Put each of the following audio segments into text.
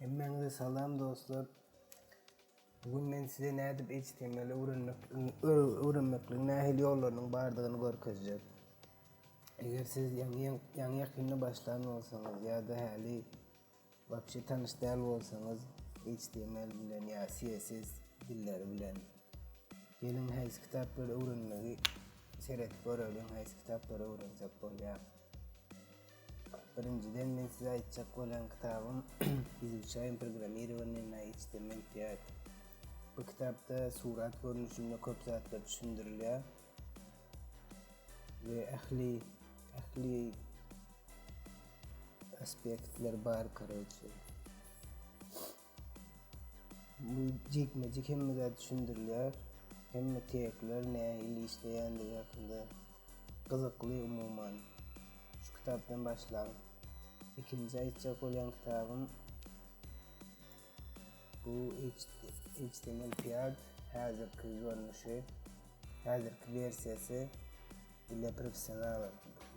Hemmäňize salam dostlar. Bu gün men size nädip HTML öwrenmek öwrenmekligiň nähili ýollarynyň bardygyny görkezjek. Eger siz ýaňy ýaňy ýakynda başlan bolsaňyz ýa-da häli Wapşe tanyş däl bolsaňyz HTML bilen ýa CSS dilleri bilen geliň haýsy kitaplary öwrenmegi seredip göreliň haýsy kitaplary öwrensek bolýar. Birinjiden men size aýtjak bolýan kitabym Izuçaýym programmirowaniýe na HTML5. Bu kitapda surat görnüşinde köp zatlar düşündirilýär. we ähli ähli aspektler bar karoçe bu jikmejik hemme zat düşündirilýär hemme tekler nähili işleýändigi hakynda gyzykly umuman şu kitapdan başlaň ikinji aýtjak bolýan kitabym Bu HTML pad häzirki görnüşi, häzirki versiýasy ile professional.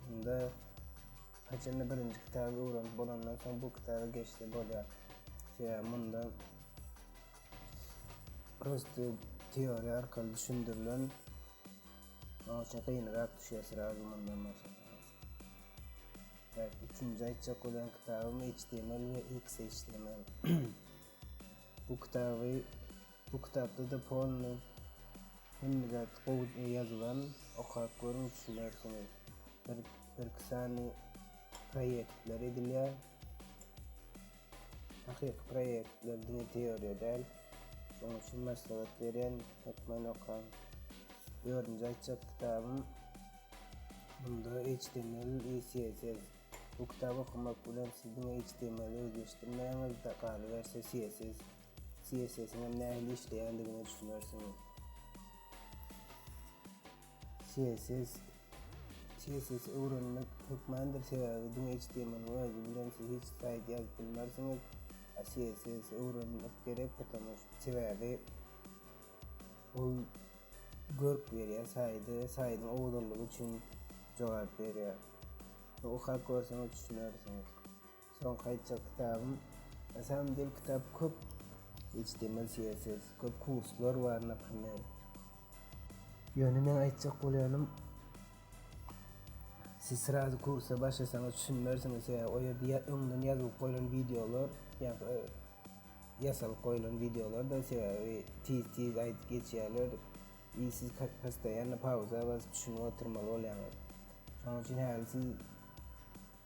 Bunda haçanda birinji kitaby öwrenip bolandan soň bu kitaba geçse bolýar. Sebäbi munda prosta teoriýa arkaly düşündirilen Onça gynrak düşýär srazu mundan başlap. Evet, üçünji aýtjak bolan kitabym HTML we XHTML. bu kitaby bu kitapda da polny hemme zat gowy ýazylan, okap görüň düşünersiňiz. Bir bir iki sany proýektler edilýär. Hakyky proýektler diňe teoriýa däl. Şonuň üçin maslahat berýän, hökman okaň. Dördünji aýtjak kitabym Munda HTML i CSS. Bu kitaby okamak bilen siz diňe HTML-i özleşdirmäňiz-de, galyberse CSS, CSS-iň hem nähili işleýändigine düşünersiňiz. CSS, CSS-i öwrenmek hökmandyr, sebäbi diňe HTML-iň özi bilen siz hiç saýt ýazyp bilmersiňiz. A CSS-i öwrenmek gerek, sebäbi Ol görk berýär saýda, saýdyň owzallygy üçin jogap berýär. Okap görseňiz düşünersiňiz. Soňky aýtjak kitabym, na samym del kitap köp html css köp kurslar bar naprimer. Ýöne meň aýtjak bolýanym siz srazu kursa başlasaňyz düşünmersiňiz sebäbi o ýerde öňden ýazylyp goýlan wideolar ýa-da Ýasalyp goýulan wideolarda sebäbi tiz tiz aýdyp geçýärler i siz postoýanno pauza basyp düşünip oturmaly bolýaňyz. Şonuň üçin häli siz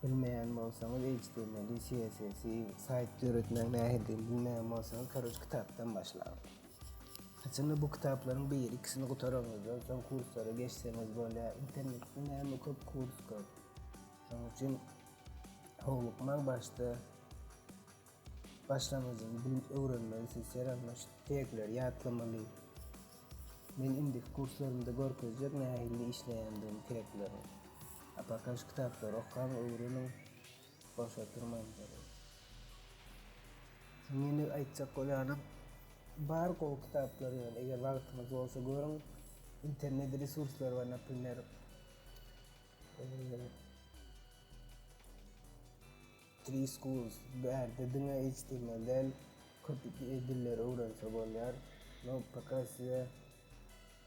bilmeýän bolsaňyz html i css i saýt döretmegiň nähilidigini bilmeýän bolsaňyz karoç kitapdan başlaň. Haçanda bu kitaplaryň biri ikisini gutaraňyzdan soň kurslara geçseňiz bolýar internetde näme köp kurs köp. Şonuň üçin howlukmaň başda Başlangyjyň bilim öwrenmegisi serembaş tegleri ýatlamaly. Men indiki kurslarymda görkezjek nähilli işleýändigimi teglerin. Apakaş kitaplary okaň öwreniň boşa durmaň derin. Şuny ýene aýtjak bolýanym bar gowy kitaplary ýöne eger wagtyňyz bolsa görüň internet resurslary bar naprimer Three Schools, Bu ýerde diňe HTML däl, köp dilleri öwrense bolýar. No Pakasia,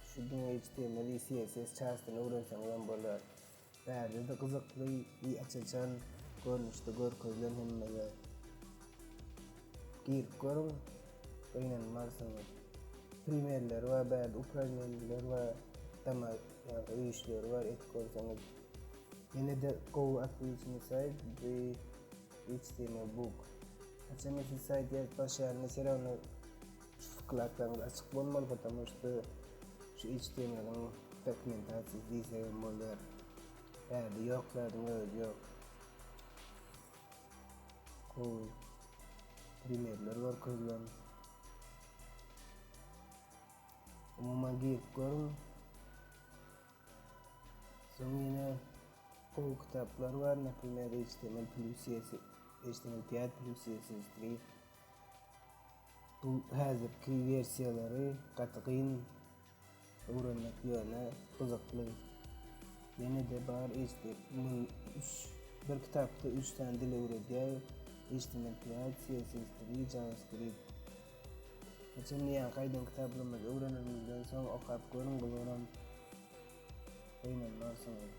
Şu diňe HTML i CSS çastyny öwrenseňizem bolar. Bärde-de gyzykly i aç-açan görnüşde görkezilen hemme zat. Girip görüň, gynanmarsyňyz. Primerleri bar bärde, uprawneniýeler bar, dama ýa-da öýüşleri bar, edip görseňiz. Ýene-de gowy atlyjymy saýyp, bu hiç deme bug. Haçan eşit saýt ýazyp başlaýanymy serewne şu wklaklaryňyz açyk bolmaly potamu şda şu hiç demeniň dokumentasiýasy diýsegem bolýar. Bärde ýok zadyň özi ýok. Gowy primerler görkezilen. Umuman girip görüň. Soň ýene gowy kitaplar bar, naprimer, HTML plus ýesi, HTML piýat plus ýesi skrip. Bu häzirki wersiýalary gaty gyn öwrenmek ýöne gyzykly. Ýene-de bar HTML üç, bir kitapda üç sany dil öwredýär, HTML piýat, CSS dili, JavaScript. Geçen diýen gaýdan kitaplymyzy öwrenenimizden soň okap görüň bularam gynanmarsyňyz.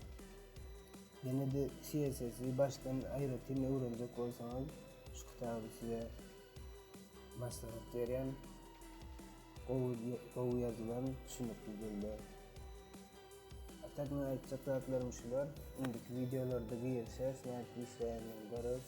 Ýene-de CSS-i başdan aýratyn öwrenjek bolsaňyz şu kitaby size maslahat berýän. Gowy gowy ýazylan düşünikli dilde. A tak men aýtjak zatlarym şular. Indiki wideolarda girişeris nädip işleýändigini göreris.